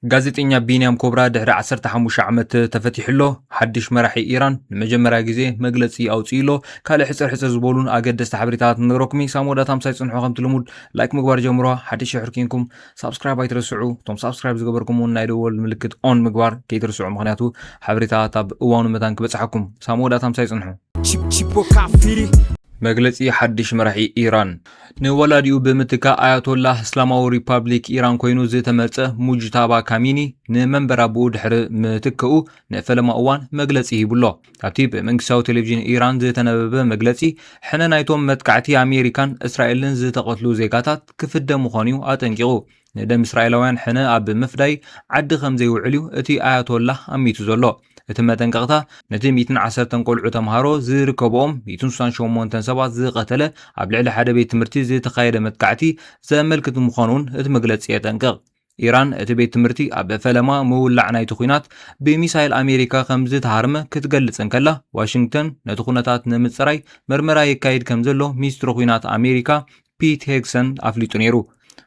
ጋዜጠኛ ቢንያም ኮብራ ድሕሪ ዓሰርተ ሓሙሽተ ዓመት ተፈቲሑ ኣሎ። ሓድሽ መራሒ ኢራን ንመጀመርያ ግዜ መግለጺ ኣውጺኡ ኣሎ። ካልእ ሕጽር ሕጽር ዝበሉን ኣገደስቲ ሓበሬታታት ንነግረኩም እዪ። ሳሙኤል ዳታ ምሳይ ጽንሑ ከምቲ ልሙድ ላይክ ምግባር ጀምሮ ሓደ ሽሕ ርኪንኩም ሳብስክራይብ ኣይትረስዑ እቶም ሳብስክራይብ ዝገበርኩም ውን ናይ ደወል ምልክት ኦን ምግባር ከይትርስዑ ምክንያቱ ሓበሬታታት ኣብ እዋኑ መታን ክበጽሓኩም። ሳሙኤል ዳታ ምሳይ ጽንሑ። Chip Chip Kafiri መግለጺ ሓድሽ መራሒ ኢራን። ንወላዲኡ ብምትካእ ኣያቶላህ እስላማዊ ሪፓብሊክ ኢራን ኮይኑ ዝተመርጸ ሙጅታባ ካሚኒ ንመንበር ኣቦኡ ድሕሪ ምትከኡ ንፈለማ እዋን መግለጺ ሂቡሎ። ኣብቲ ብመንግስታዊ ቴሌቪዥን ኢራን ዝተነበበ መግለጺ፣ ሕነ ናይቶም መጥቃዕቲ ኣሜሪካን እስራኤልን ዝተቐትሉ ዜጋታት ክፍደ ምዃኑ'ዩ ኣጠንቂቑ። ንደም እስራኤላውያን ሕነ ኣብ ምፍዳይ ዓዲ ከም ዘይውዕል እዩ እቲ ኣያቶላህ ኣሚቱ ዘሎ። እቲ መጠንቀቕታ፣ ነቲ ሚእትን ዓሰርተን ቈልዑ ተምሃሮ ዝርከብኦም ሚእትን ስሳን ሸሞንተን ሰባት ዝቐተለ ኣብ ልዕሊ ሓደ ቤት ትምህርቲ ዝተኻየደ መጥቃዕቲ ዘመልክት ምዃኑ'ውን እቲ መግለጺ የጠንቅቕ። ኢራን፣ እቲ ቤት ትምህርቲ ኣብ ፈለማ ምውላዕ ናይቲ ኲናት ብሚሳይል ኣሜሪካ ከም ዝተሃርመ ክትገልጽ እንከላ፣ ዋሽንግተን ነቲ ኵነታት ንምጽራይ መርመራ የካይድ ከም ዘሎ ሚኒስትሪ ኲናት ኣሜሪካ ፒት ሄግሰን ኣፍሊጡ ነይሩ።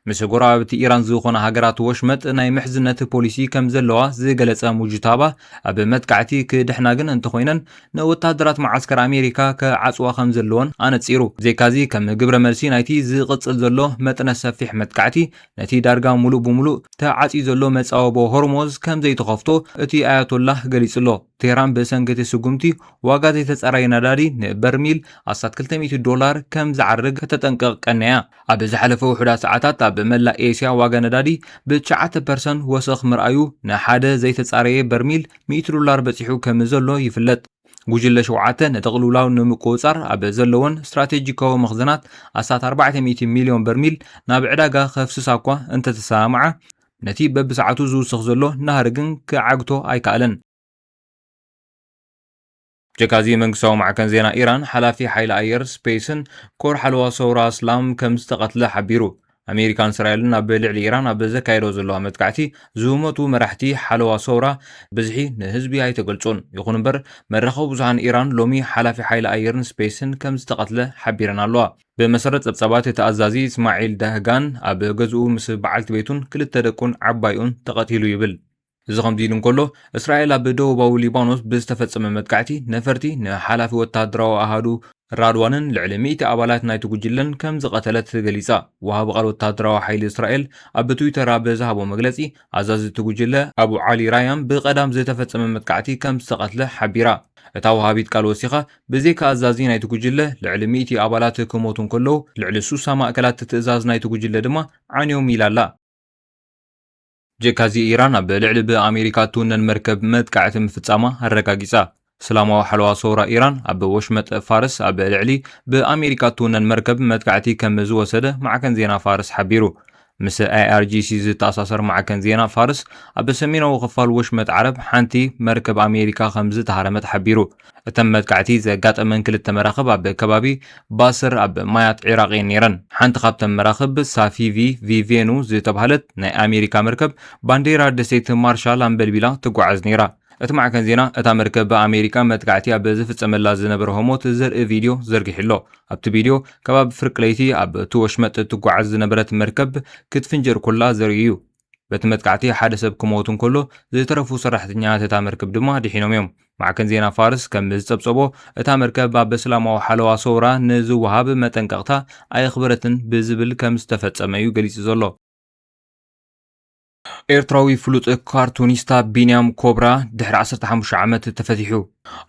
ምስ ጎረባብቲ ኢራን ዝኾነ ሃገራት ወሽመጥ ናይ ምሕዝነት ፖሊሲ ከም ዘለዋ ዝገለጸ ሙጅታባ፣ ኣብ መጥቃዕቲ ክድሕና ግን እንተኾይነን ንወተሃደራት መዓስከር ኣሜሪካ ክዓጽዋ ከም ዘለወን ኣነጺሩ። ብዘይካዚ ከም ግብረ መልሲ ናይቲ ዝቕጽል ዘሎ መጠነ ሰፊሕ መጥቃዕቲ፣ ነቲ ዳርጋ ምሉእ ብምሉእ ተዓጽዩ ዘሎ መጻወቦ ሆርሞዝ ከም ዘይትኸፍቶ እቲ ኣያቶላህ ገሊጹ'ሎ። ቴህራን ብሰንኪ እቲ ስጉምቲ ዋጋ ዘይተጻረየ ነዳዲ ንበርሚል ኣስታት ክልተ ሚእቲ ዶላር ከም ዝዓርግ ከተጠንቅቕ ቀንያ። ኣብ ዝሓለፈ ውሑዳት ሰዓታት ኣብ መላእ ኤስያ ዋጋ ነዳዲ ብትሽዓተ ፐርሰን ወሰኽ ምርኣዩ ንሓደ ዘይተጻረየ በርሚል ሚእቲ ዶላር በጺሑ ከም ዘሎ ይፍለጥ። ጉጅለ ሸውዓተ ነቲ ቅልውላው ንምቁጽጻር ኣብ ዘለወን ስትራቴጂካዊ መኽዘናት ኣስታት ኣርባዕተ ሚእቲ ሚልዮን በርሚል ናብ ዕዳጋ ከፍስሳ'ኳ እንተተሰማምዓ ነቲ በብሰዓቱ ዝውስኽ ዘሎ ናህሪ ግን ክዓግቶ ኣይከኣለን። ብጀካ'ዚ መንግስታዊ ማዕከን ዜና ኢራን፣ ሓላፊ ሓይሊ ኣየር፣ ስፔስን ኮር ሓለዋ ሰውራ ኣስላም ከምዝተቐትለ ሓቢሩ። ኣሜሪካን እስራኤልን ኣብ ልዕሊ ኢራን ኣብ ዘካየደኦ ዘለዋ መጥቃዕቲ ዝሞቱ መራሕቲ ሓለዋ ሰውራ ብዝሒ ንህዝቢ ኣይተገልጹን። ይኹን'ምበር መራኸቢ ብዙሃን ኢራን ሎሚ ሓላፊ ሓይሊ ኣየርን ስፔስን ከምዝተቐትለ ሓቢረን ኣለዋ። ብመሰረት ጸብጻባት እቲ ኣዛዚ እስማዒል ዳህጋን ኣብ ገዝኡ ምስ በዓልቲ ቤቱን ክልተ ደቁን ዓባይኡን ተቐቲሉ ይብል። እዚ ከምዚ ኢሉ እንከሎ፣ እስራኤል ኣብ ደቡባዊ ሊባኖስ ብዝተፈጸመ መጥቃዕቲ ነፈርቲ ንሓላፊ ወተሃደራዊ ኣሃዱ ራድዋንን ልዕሊ ሚእቲ ኣባላት ናይቲ ጉጅለን ከምዝቐተለት ገሊጻ። ወሃቢ ቃል ወተሃደራዊ ሓይሊ እስራኤል ኣብ ትዊተር ኣብ ዝሃቦ መግለጺ፣ ኣዛዚ እቲ ጉጅለ ኣቡ ዓሊ ራያም ብቀዳም ዝተፈጸመ መጥቃዕቲ ከምዝተቐትለ ሓቢራ። እታ ወሃቢት ቃል ወሲኻ፣ ብዘይካ ኣዛዚ ናይቲ ጉጅለ፣ ልዕሊ ሚእቲ ኣባላት ክሞቱ እንከለዉ፣ ልዕሊ ሱሳ ማእከላት ትእዛዝ ናይቲ ጉጅለ ድማ ዓንዮም ኢላ ኣላ። ብጀካ'ዚ ኢራን ኣብ ልዕሊ ብኣሜሪካ እትውነን መርከብ መጥቃዕቲ ምፍጻማ ኣረጋጊጻ። እስላማዊ ሓለዋ ሰውራ ኢራን ኣብ ወሽመጥ ፋርስ ኣብ ልዕሊ ብኣሜሪካ እትውነን መርከብ መጥቃዕቲ ከም ዝወሰደ ማዕከን ዜና ፋርስ ሓቢሩ። ምስ ኣይኣርጂሲ ዝተኣሳሰር ማዕከን ዜና ፋርስ ኣብ ሰሜናዊ ክፋል ወሽመጥ ዓረብ ሓንቲ መርከብ ኣሜሪካ ከም ዝተሃረመት ሓቢሩ። እተን መጥቃዕቲ ዘጋጠመን ክልተ መራኽብ ኣብ ከባቢ ባስር ኣብ ማያት ዒራቕ እየን ነይረን። ሓንቲ ካብተን መራኽብ ሳፊቪ ቪቬኑ ዝተባህለት ናይ ኣሜሪካ መርከብ ባንዴራ ደሴት ማርሻል ኣንበልቢላ ትጓዓዝ ነይራ። እቲ ማዕከን ዜና፣ እታ መርከብ ብኣሜሪካ መጥቃዕቲ ኣብ ዝፍጸመላ ዝነበረ ህሞት ዘርኢ ቪድዮ ዘርጊሑ'ሎ። ኣብቲ ቪድዮ፣ ከባቢ ፍርቂ ለይቲ ኣብቲ ወሽመጥ እትጓዓዝ ዝነበረት መርከብ ክትፍንጀር ኮላ ዘርኢ'ዩ። በቲ መጥቃዕቲ ሓደ ሰብ ክሞት እንከሎ፣ ዝተረፉ ሰራሕተኛታት እታ መርከብ ድማ ድሒኖም እዮም። ማዕከን ዜና ፋርስ ከም ዝጸብጸቦ፣ እታ መርከብ ኣብ እስላማዊ ሓለዋ ሰውራ ንዝወሃብ መጠንቀቕታ ኣየኽበረትን ብዝብል ከም ዝተፈጸመ'ዩ ገሊጹ ዘሎ። ኤርትራዊ ፍሉጥ ካርቱኒስታ ቢንያም ኮብራ ድሕሪ 15 ዓመት ተፈቲሑ።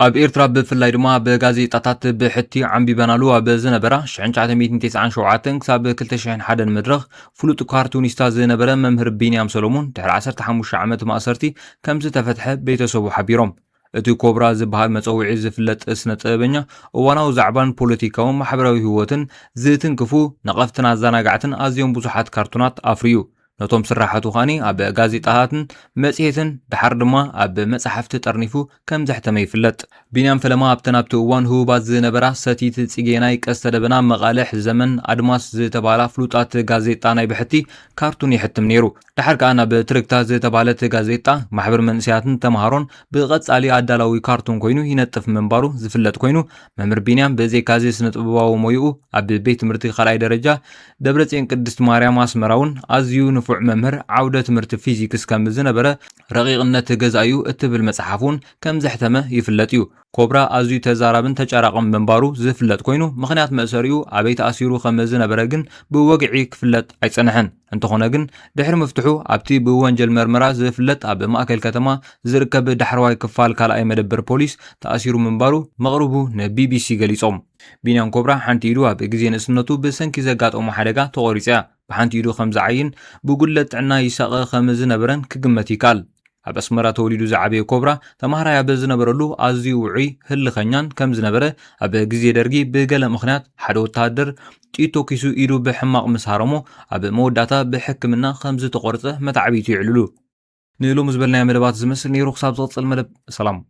ኣብ ኤርትራ ብፍላይ ድማ ብጋዜጣታት ብሕቲ ዓንቢበናሉ ኣብ ዝነበራ 1997 ክሳብ 2001 መድረኽ ፍሉጥ ካርቱኒስታ ዝነበረ መምህር ቢንያም ሰሎሙን ድሕሪ 15 ዓመት ማእሰርቲ ከም ዝተፈትሐ ቤተሰቡ ሓቢሮም። እቲ ኮብራ ዝብሃል መጸውዒ ዝፍለጥ ስነ ጥበበኛ፣ እዋናዊ ዛዕባን ፖለቲካውን ማሕበራዊ ህይወትን ዝትንክፉ ነቐፍትን ኣዛናጋዕትን ኣዝዮም ብዙሓት ካርቱናት ኣፍርዩ። ነቶም ስርሓቱ ከኣ ኣብ ጋዜጣታትን መጽሔትን ደሓር ድማ ኣብ መጻሕፍቲ ጠርኒፉ ከም ዘሕተመ ይፍለጥ። ቢንያም ፈለማ ኣብተን ኣብቲ እዋን ህቡባት ዝነበራ ሰቲት፣ ጽጌናይ፣ ቀስተ ደበና፣ መቓልሕ፣ ዘመን፣ ኣድማስ ዝተብሃላ ፍሉጣት ጋዜጣ ናይ ብሕቲ ካርቱን የሕትም ነይሩ። ደሓር ከኣ ናብ ትርግታ ዝተባህለት ጋዜጣ ማሕበር መንእሰያትን ተምሃሮን ብቐጻሊ ኣዳላዊ ካርቱን ኮይኑ ይነጥፍ ምንባሩ ዝፍለጥ ኮይኑ፣ መምህር ቢንያም ብዘይካ'ዚ ስነ-ጥበባዊ ሞይኡ ኣብ ቤት ትምህርቲ ካልኣይ ደረጃ ደብረጽዮን ቅድስት ማርያም ኣስመራ'ውን ኣዝዩ ንፉዕ መምህር ዓውደ ትምህርቲ ፊዚክስ ከም ዝነበረ ረቂቕነት ገዛ'ዩ እትብል መጽሓፍ'ውን ከም ዘሕተመ ይፍለጥ እዩ። ኮብራ ኣዝዩ ተዛራብን ተጫራቕን ምንባሩ ዝፍለጥ ኮይኑ፣ ምኽንያት መእሰሪኡ ኣበይ ተኣሲሩ ከም ዝነበረ ግን ብወግዒ ክፍለጥ ኣይጸንሐን። እንተኾነ ግን ድሕሪ ምፍትሑ ኣብቲ ብወንጀል መርመራ ዝፍለጥ ኣብ ማእከል ከተማ ዝርከብ ዳሕረዋይ ክፋል ካልኣይ መደበር ፖሊስ ተኣሲሩ ምንባሩ መቕርቡ ንቢቢሲ ገሊጾም። ቢንያም ኮብራ ሓንቲ ኢዱ ኣብ ግዜ ንእስነቱ ብሰንኪ ዘጋጠሞ ሓደጋ ተቖሪጻ'ያ፣ ብሓንቲ ኢዱ ከም ዝዓይን ብጉድለት ጥዕና ይሳቐ ከም ዝነበረን ክግመት ይከኣል። ኣብ ኣስመራ ተወሊዱ ዝዓበየ ኮብራ፣ ተማሃራይ ኣብ ዝነበረሉ ኣዝዩ ውዑይ፣ ህልኸኛን ከም ዝነበረ፣ ኣብ ግዜ ደርጊ ብገለ ምኽንያት ሓደ ወተሃደር ጥይት ተኲሱ ኢዱ ብሕማቕ ምስ ሃረሞ፣ ኣብ መወዳእታ ብሕክምና ከም ዝተቖርጸ መታዕብይቱ የዕልሉ። ንሎሚ ዝበልናዮ መደባት ዝመስል ነይሩ ክሳብ ዝቕጽል መደብ ሰላም።